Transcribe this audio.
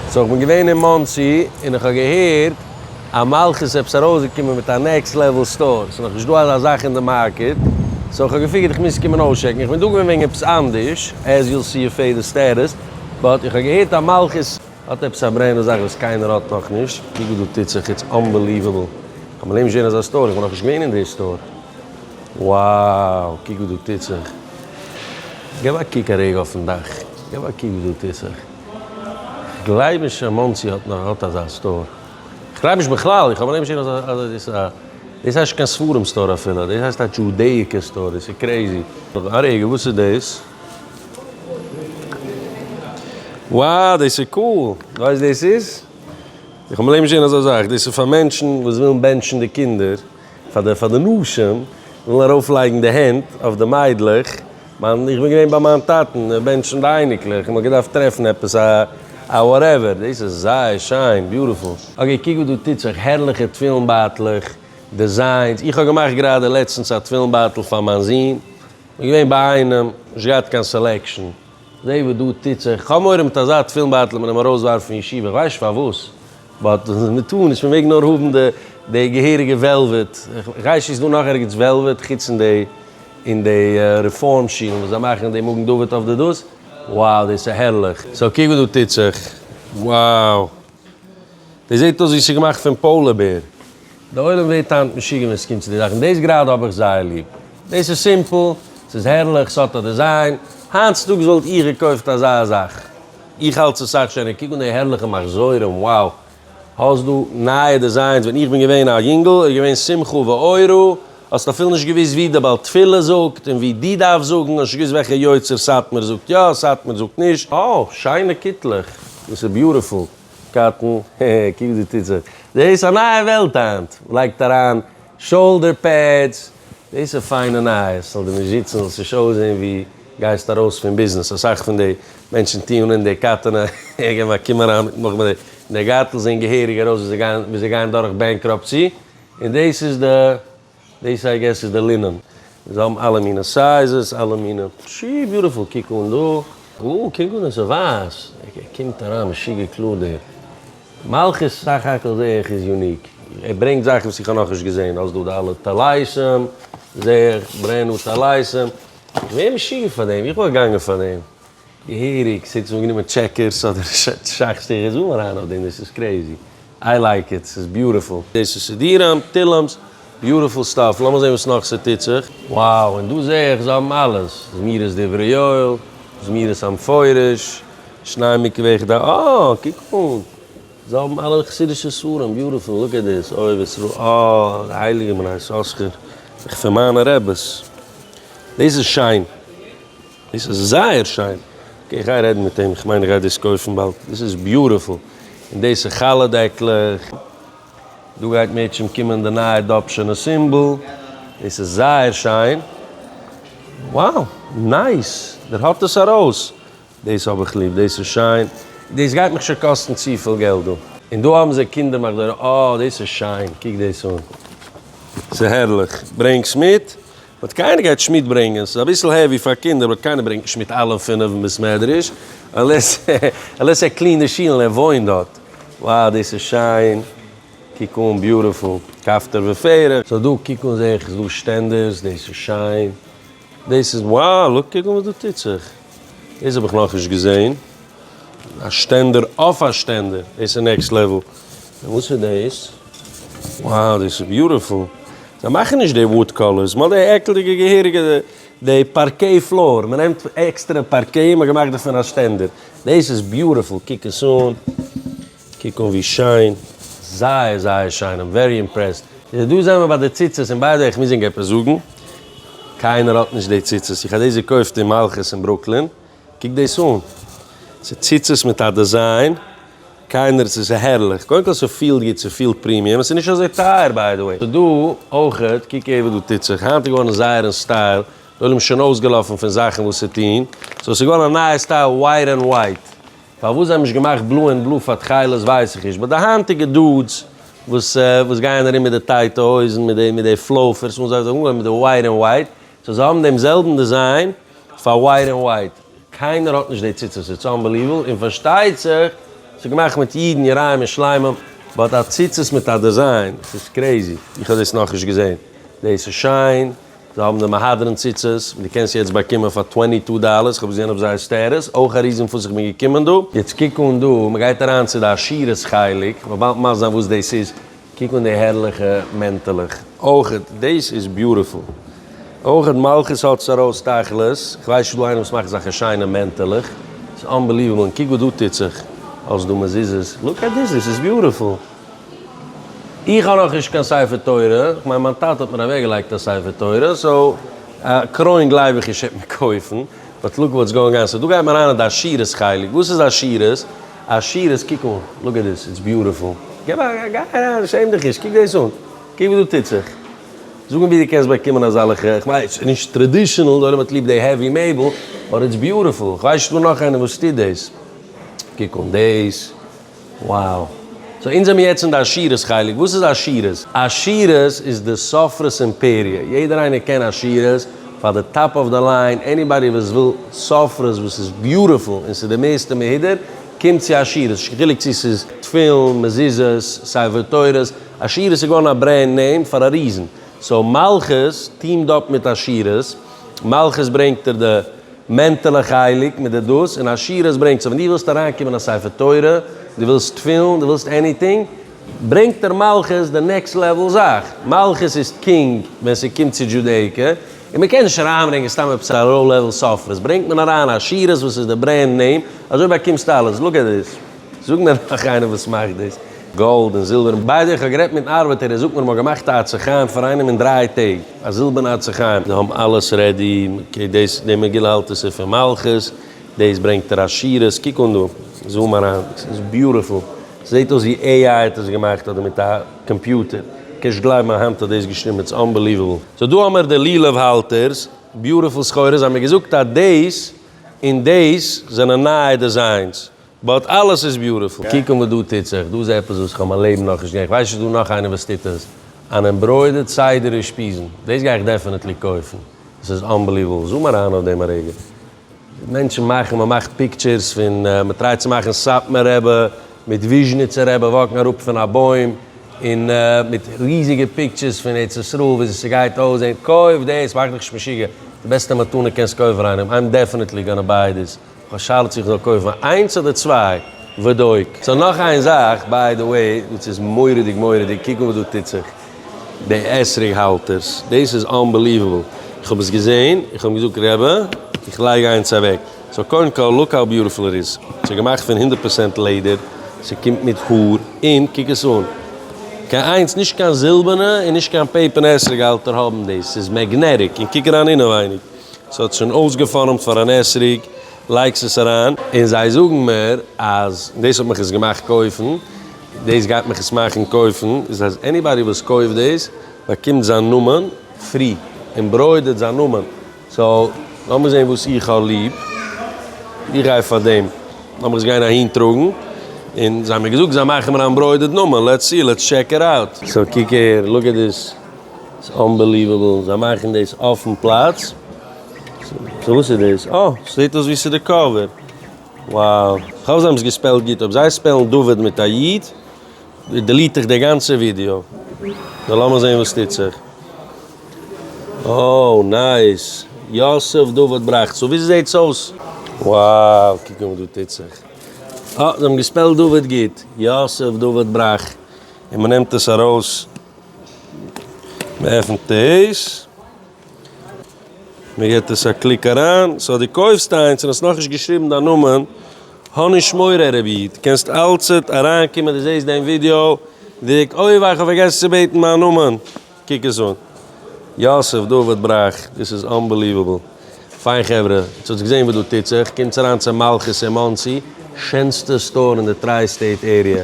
סאו כ'בין געווען אין מאנסי און איך האב געהערט אז מלכות איז עפעס ארויסגעקומען מיט א נעקסט לעוועל סטאר, ס'איז נאכנישט דא אזא זאך אין די מארקעט, סאו כ'האב געפיגערט איך מוז קומען אויסטשעקן, איך בין דא געווען וועגן עפעס אנדערש, עז יו וויל סי אויף פעדער סטעטוס, באט איך האב געהערט אז מלכות האט עפעס א ברענער זאך וואס קיינער האט נאכנישט, קוק וואס דא טוט זיך, איטס אנבעליוועבל, כ'האב מיין לעבן נישט געזען אזא סטאר, איך בין נאכנישט געווען אין די סטאר, wow קוק וואס דא טוט זיך, געב א קוק א רגע אויפן דאך. געב א קוק ווי דא טוט זיך. כ'גלייב נישט אז מאנסי האט נאך האט אזא סטאר. כ'גלייב נישט בכלל. איך האב אנהייב נישט געזען אזא דאס א דאס הייסט נישט קיין ספרים סטאר אפילו. דאס הייסט א דזשודעיקער סטאר. דאס איז קרעזי. א רגע וואס איז דאס? וואו דאס איז קאול. ווייסט דאס איז? איך האב אנהייב נישט געזען אזא זאך. דאס איז פאר מענטשן וואס ווילן בענטשן די קינדער. פאר די פאר די נשים ווילן ארויף לייגן די הענט אויף די מיידלעך, מיין איך בין געווען ביי מיין טאטן בענטשן די אייניקלעך און מען האט געדארפט טרעפן עפעס א א וואטעווער, דאס איז זייער שיין, ביוטיפול. אקעי קוק וואס דא טוט זיך, הערליכע תפילין בייטלעך, דעזיינס, איך האב געמאכט גראדע לעצטנס א תפילין בייטל פאר מיין זון, איך בין געווען ביי איינעם, נישט געהאט קיין סעלעקשאן. זע וואס דא טוט זיך, איך האב מורא מיט אזא תפילין בייטל מען אים ארויס ווארפן פון ישיבה, איך ווייס נישט פארוואס, באט מען טאר נישט מען מעג נאר האבן די די געהעריגע וועלוועט, איך איך ווייס נישט איז דא נאך ערגעץ וועלוועט חוץ אין די אין די רעפארם שילן וואס זיי מאכן די מגן דוד אויף די דאס, wow דאס איז הערליך, סאו קוק וואס דא טוט זיך, wow. דאס זעט אויס ווי ס'איז געמאכט פון פאולער בער. די עולם ווערט היינט משוגע ווען ס'קומט צו די זאכן, דאס גראדע האב איך זייער ליב. דאס איז סימפל, ס'איז הערליך, ס'האט א דיזיין. היינט צוטאגס וואלט איך געקויפט אזא זאך. איך האלט ס'איז סאך שענער. קוק אן די הערליכע מחזורים, wow! האסט דא נייע דיזיינס, ווען איך בין געווען א יונגל איז געווען שמחה ואורה. האסט אפילו נישט געוואוסט ווי די בעל תפילה זאגט און ווי דו דארפסט זאגן, האסט נישט געוואוסט וועלכע יוצר סאטמאר זאגט יא, סאטמאר זאגט נישט. אה, שיינע קיטלעך. דאס איז ביוטיפול, קטן. העהע, קוק דא טוט זיך. דאס איז א נייע וועלט היינט. מען לייגט אריין שאולדער פעדס. דאס איז פיינע נייעס. זאל דיר נישט זיצן, זאלסט נישט אויסזען ווי גייסט ארויס פון ביזנעס. אסאך פון די מענטשן טוען אן די קייטענע, העהע, געב א קום אריין מיט נאכמער. די גארטל זעען געהעריג ארויס ווי זיי גייען דורך בענקראפסי. און דאס איז די, דאס איי געס איז די לינען, זיי האבן אלע מינע סייזעס, אלע מינע, פשי ביוטיפול, קוק אן דא, גא, קוק אן עס איז ווייס, ער קומט אריין משוגע קלאר דער מלכות, סך הכל זע איך איז יוניק, ער ברענגט זאכן וואס איך האב נאך נישט געזען, האסט דא די אלע טלייסעם, זע איך, ברענד ניו טלייסעם, איך ווער משוגע פאר דעם, איך וואלט געגאנגען פאר דעם. געהעריג, ס'העט זיך אנגענומען טשעקערס אדער שאך שטיך איך זום אריין אויף דעם דאס איז קרעזי איי לייק איט ס'איז ביוטיפול. דאס איז סידיראם, תהילים'ס, ביוטיפול סטאף, לאמיר זעהן וואס נאך ס'טוט זיך. Wow און דא זעה איך זיי האבן אלעס, זמירות דברי יואל, זמירות המפורש, שני מקווה כדי אה קוק אן זיי האבן אלע חסידישע ספרים ביוטיפול look at this אוהב ישראל אה די הייליגע בני יששכר זיך פון מיינע רעבעס דאס איז שיין. דאס איז זייער שיין. אקעי גיי רעדן מיט אים, כ'מיין איך גיי דאס קויפן באלד, דאס איז ביוטיפול. און דאס איז חלה דעקלעך. דא גייט מערטשענט קומען די נייע אדאפשענע סימבאל. דאס איז זייער שיין. wow נייס! דער האט עס ארויס. דאס האב איך ליב, דאס איז שיין. דאס גייט מיך שוין קאסטן צופיל געלט דא. און דא האבן זיי קינדער מחזור. אה דאס איז שיין. קוק דאס אן. ס'הערליך. ברענגס מיט. באט קיינער גייט נישט מיט ברענגען, ס'איז אביסל העווי פאר קינדער באט קיינער ברענגט נישט מיט אלע פינעף אין בית מדרש, אנלעס אנלעס ער קלינט די שילן, ער וואוינט דארט. Wow דאס איז שיין, קוק אן, ביוטיפול, כפתור ופרח. סאו דא קוק אן זעה איך איז דא שטענדערס, דאס איז שיין, דאס איז wow, לוק קוק אן וואס דא טוט זיך, דאס האב איך נאכנישט געזען, א שטענדער אויף א שטענדער, דאס איז נעקסט לעוועל. און וואס איז דאס? Wow דאס איז ביוטיפול. זיי מאכן נישט די וואוד קאלערס, מ'האט די עקלדיגע געהעריגע די פארקעי פלאר, מ'נעמט עקסטערע פארקעי און מ'האט געמאכט דערפון א שטענדער. דאס איז ביוטיפול, קוק עס אן, קוק אן ווי שיין. זייער זייער שיין, איים ווערי אימפרעסד. איז דא זעמער ביי די ציצית, און ביי די וועי איך מוז ענק עפעס זאגן, קיינער האט נישט די ציצית, איך האב דאס געקויפט אין מלכות אין ברוקלין, קוק דאס אן, ס'איז ציצית מיט א דעזיין, קיינער, ס'איז הערליך, קודם כל ס'פילט גוט, ס'פילט פרימיום, ס'איז נישט אזוי טייער ביי די וועי, ס'דא אויכעט, קוק אהער וואס דא טוט זיך, היינט איז געווארן זייער אין סטייל, די עולם איז שוין אויסגעלאפן פון זאכן וואס צו טון, סאו ס'איז געווארן א נייע סטייל ווייט ענד ווייט, פארוואס זיי האבן נישט געמאכט בלוי ענד בלוי פאר תכלת ווייס איך נישט, באט די היינטיגע דודס וואס וואס גייען ארום מיט די טייטע הויזן מיט די מיט די פלאופערס און זיי זאגן אנגעהויבן מיט די ווייט ענד ווייט, סאו זיי האבן דעם זעלבן דעזיין, פאר ווייט ענד ווייט, קיינער האט נישט די ציצית, איטס אנבעליוועבל, און פארשטייט זיך ס'איז געמאכט מיט אידן יראים און שלמים, באט א ציצית מיט א דעזיין, ס'איז קרעזי, איך האב דאס נאכנישט געזען, דאס איז שיין, זיי האבן די מהדרין ציצית, דו קענסט יעצט באקומען פאר טווענטי טו דאלערס, איך האב געזען אויף זייער סטעטוס, אויך א ריזען פארוואס איך בין געקומען דא, יעצט קוק אן דא, מ'גייט אריין צו די עשירות חלק, מ'וועלט מסביר זיין וואס דאס איז. קוק אן די הערליכע מענטעלעך אויכעט, דעיס איז ביוטיפול, אויכעט מלכות האט עס ארויס תכלית, כווייס נישט דא איינער וואס מאכט אזאלכע שיינע מענטעלעך, סאיז אנבעליוועבל, און קוק וואס דא טוט זיך, האסט דא מזוזות, לוק עט דיס דיס איז ביוטיפול, איך האב נאכנישט קיין ספר תורה, איך מיין מיין טאטע האט מיר אוועק געלייגט א ספר תורה, סאו א קרוין גלייב איך נישט עט מען קויפן, באט לוק וואטס גאוינג אן, סאו דא גייט מען אריין אין די עשירות חלק, וואס איז עשירות? א שירות קוק אן, לוק עט דיס, איטס ביוטיפול, גיי אריין, שעם דיך נישט, קוק דאס אן, קוק וואס דא טוט זיך, זאג מיר ווי דו קענסט באקומען אזאלעכע, איך מיין איטס נישט טרעדישענעל, די עולם האט ליב די העווי מעבל, באט איטס ביוטיפול, איך ווייס נישט פון נאך איינעם וואס טוט דאס, קוק אן דאס, wow, סאו אונז זעמיר יעצט אין די עשירות חלק, וואס איז עשירות? עשירות איז די סופרות אימפעריע, יעדער איינער קען עשירות, פאר די טאפ אוו די ליין, עניבאדי וואס וויל סופרות וואס איז ביוטיפול און ס'איז די מערסטע מהודר, קומט צו עשירות, נישט קיין חילוק צו ס'איז תפילין, מזוזות, ספר תורות, עשירות איז געווארן א ברענד נעים פאר א ריזן, סאו מלכות טיעמד אפ מיט עשירות, מלכות ברענגט דיר די מענטעלע חלק מיט די דאס, און עשירות ברענגט, סאו ווען דו ווילסט אריינקומען אין א ספר תורה, דו ווילסט תפילין, דו ווילסט עניטינג, ברענגט דער מלכות די נעקסט לעוועל זאך, מלכות איז קינג ווען ס'קומט צו דזשודעיקע, און מ'קען נישט אריינברענגען סתם עפעס א ראו לעוועל ספרות, ברענגט מען אריין עשירות וואס איז די ברענד נעים, אזוי באקומסטו אלעס, לוק עט דיס, זאג מיר נאך איינער וואס מאכט דאס, גאלד און זילבער און ביידע, איך האב גערעדט מיטן ארבעטער ער זאגט מיר מ'האט געמאכט א עצי חיים פאר איינעם אין דריי טעג, א זילבערנע עצי חיים, זיי האבן אלעס רעדי, אקעי דאס די מגילה האלט עס איז פון מלכות, דאס ברענגט ער עשירות, קוק אן דא, זום אריין, עס איז ביוטיפול. זעהט אויס ווי עי איי האט עס געמאכט אדער מיט א קאמפיוטער, קענסט גלייבן מיין האנט האט דאס געשריבן, איטס אנבעליוועבל. סאו דא האמיר די לולב האלטערס, ביוטיפול סחורה, זיי האבן מיר געזאגט אז דאס און דאס זענען נייע דעזיינס, באט אלעס איז ביוטיפול. קוק אן וואס דא טוט זיך, דא איז עפעס וואס איך האב מיין לעבן נאכנישט געזעהן, איך ווייס נישט איז דא נאך איינער וואס טוט עס, אן עמברוידערד סדר אושפיזין, דאס גיי איך דעפענעטלי קויפן, עס איז אנבעליוועבל, זום אריין אויף דעם א רגע. מענטשן מאכן, מען מאכט פיקטשערס פון, מען טרייט צו מאכן סאטמאר רבי מיט וויזשניצער רבי וואקן אראפ פון א בוים, און מיט ריזיגע פיקטשערס פון ארץ ישראל וויאזוי ס'גייט אויסזען, קויף דאס, מאך דיך נישט משוגע, די בעסטע מתנה קענסט קויפן פאר איינעם, איים דעפענעטלי גאנא ביי דיס, איך האב שאלה צו איך זאל קויפן איינס אדער צוויי, ודו ק. סאו נאך איין זאך, ביי די וועי, דאס איז מורא'דיג מורא'דיג, קוק אן וואס דא טוט זיך. די אתרוג האלטערס, דאס איז אנבעליוועבל, איך האב עס געזעהן, איך האב אים געזאגט רבי איך לייג איינס אוועק, סאו קודם כל לוק האו ביוטיפול איט איז, עס איז געמאכט פון הונדערט פערצענט לעדער, עס קומט מיט האר, און קוק עס אן, קיין איינס, נישט קיין זילבערנע און נישט קיין פעיפערנע אתרוג האלטער האבן דאס, ס'איז מעגנעטיק, און קוק אריין אינעווייניג, עס האט שוין אויסגעפארעמט פאר אן אתרוג, לייגסט עס אריין, און זיי זאגן מיר אז דאס האט מיך עס געמאכט קויפן, דאס גייט מיך עס מאכן קויפן, איז אז עניבאדי וואס קויפט דאס באקומט זיין נאמען פרי, און ברוידעט זיין נאמען, סאו לאמיר זען וואס איך האב ליב, איך גיי פאר דעם, לאמיך עס גיין אהין טראגן, און זיי האבן מיר געזאגט זיי מאכן מיר א עמברוידעד נאמען, לעטס סי, לעטס טשעק איט אוט. סאו קוק אהער, לוק עט דיס, ס'איז אנבעליוועבל, זיי מאכן דאס אויפן פלאץ, סאו וואס איז דאס? אה, ס'זעט אויס ווי ס'איז די קאווער. וואו! כ'האף זיי האבן עס געספעלט גוט, אויב זיי ספעלן דוד מיט א י' דעליט איך די גאנצע ווידיאו. נו לאמיר זעהן וואס טוט זיך. אוי נייס! יוסף דוד בראכטס און ווי ס'זעהט אויס. וואו! קוק נאר וואס דא טוט זיך. אה! זיי האבן געספעלט דוד גוט. יוסף דוד בראך. און מ'נעמט עס ארויס. מ'עפנט עס. מען געט עס א קליק אריין, סאו די קויפסט איינס און האסט נאכנישט געשריבן דיין נאמען, האניש מורא רעב איד, קענסט אלצעט אריין קומען די זעסט דעם ווידיאו, דריק אוי וויי כ'האב פארגעסן צו בעטן מיין נאמען, קוק עס אן. יוסף דוד בראך, דאס איז אנבעליוועבל. פיין חברה, יעצט האטס געזען וואס דא טוט זיך, קומטס אריין צו מלכות אין מאנסי, שענסטע סטאר אין די טריי סטעיט עריע,